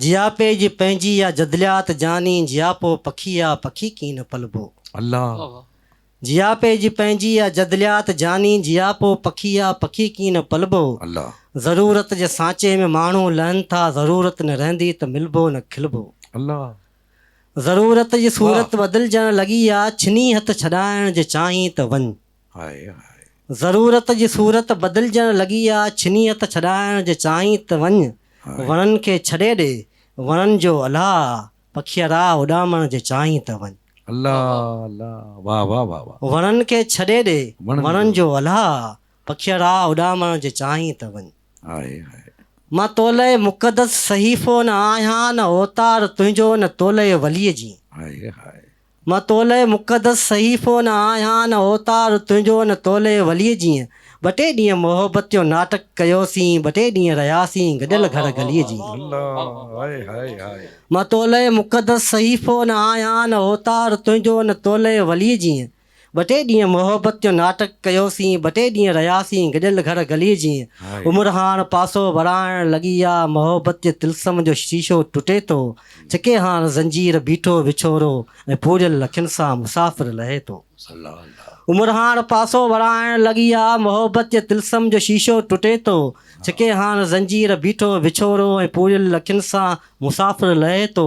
جياپي جي پنهنجي يا جدليات جاني جياپو پکي يا پکي ڪين نه پلبو. الله. جياپي جي پنهنجي يا جدليات جاني جياپو پکي يا پکي ڪين نه پلبو. الله. ضرورت جي سانچي ۾ ماڻهو لهن ٿا ضرورت نه رهندي ته ملبو نه کلبو. الله. ضرورت جي صورت بدلجڻ لڳي آ ڇني هٿ ڇڏائڻ جي چاهين ته وڃ. ضرورت جي صورت بدلجڻ لڳي آ، ڇني هٿ ڇڏائڻ جي چاهين ته وڃ، وڻن کي ڇڏي ڏي، وڻن جو الهه آ، پکيئرا اڏامڻ جي چاهين ته وڃ. وڻن کي ڇڏي ڏي، وڻن جو الهه آ، پکيئرا اڏامڻ جي چاهين ته وڃ. مان تولئه مقدس صحيفو نه آهيان نه اوتار تنهنجو نه تولئه وليء جي. مان تولئه مقدس صحيفو نه آهيان نه اوتار تنهنجو نه تولئه وليء جيئن ٻه ٽي ڏينهن محبت جو ناٽڪ ڪيوسين ٻه ٽي ڏينهن رهياسين گڏيل گهڙ گليء جيئن مان تولئه مقدس صحيفو نه آهيان نه اوتار تنهنجو نه تولئه وليء جيئن ٻه ٽي ڏينهن محبت جو ناٽڪ ڪيوسين، ٻه ٽي ڏينهن رهياسين گڏيل گهر گلي جيئن. عمر هاڻ پاسو وراڻڻ لڳي آ، محبت جي طلسم جو شيشو ٽٽي ٿو، ڇڪي هاڻ زنجير، بيٺو وڇوڙو ۽ پوريل اکين سان مسافر لهي ٿو. عمر هاڻ پاسو وراڻڻ لڳي آ، محبت جي طلسم جو شيشو ٽٽي ٿو، ڇڪي هاڻ زنجير، بيٺو وڇوڙو ۽ پوريل اکين سان مسافر لهي ٿو.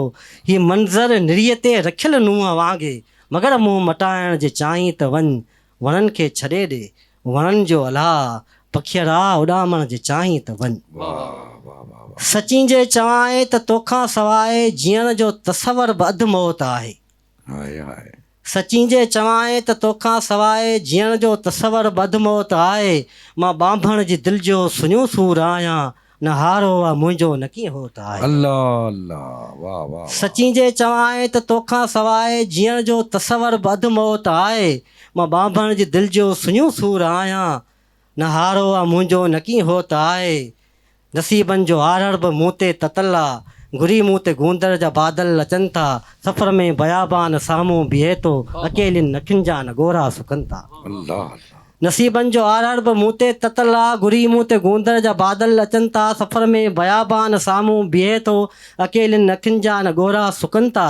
هي منظر نريء تي رکيل نونهن وانگي مگر منهن مٽائڻ جي چاهين ته وڃ وڻن کي ڇڏي ڏي وڻن جو الهه پکيئڙا اڏامڻ جي چاهين ته وڃ سچين جي چوانء ته توکان سواء جيئڻ جو تصور به اڌ موت آهي سچين جي چوانء ته توکان سواء جيئڻ جو تصور به اڌ موت آهي مان ٻانڀڻ جي دل جو سڃو سور آهيان نه هار هو آ منهنجو نه ڪيئن هو ته آهي. الله الله واه واه واه. سچين جي چوانء ته توکان سواء جيئڻ جو تصور به اڌ موت آهي مان ٻانڀڻ جي دل جو سڃو سور آهيان نه هار هو آ منهنجو نه ڪيئن هو ته آهي نصيبن جو آرهڙ به مون تي تتل آ گهري مون تي گوندڙ جا بادل اچن ٿا سفر ۾ بيابان سامهون بيهي ٿو اڪيلين اکين جا نه ڳورا سڪن ٿا. الله الله. نصيبن جو آرهڙ به مون تي تتل آ، گهري مون تي گوندڙ جا بادل اچن ٿا، سفر ۾ بيابان سامهون بيهي ٿو، اڪيلين اکين جا نه ڳورا سڪن ٿا،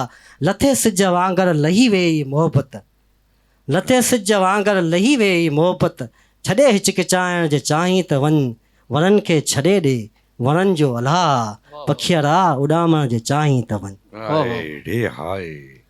لٿي سج وانگر لهي ويئي هي محبت، لٿي سج وانگر لهي ويئي هي محبت، ڇڏي هچڪچائڻ جي چاهين ته وڃ، وڻن کي ڇڏي ڏي، وڻن جو الهه آ، پکيئڙا اڏامڻ جي چاهين ته وڃ. هاء ڙي هاء.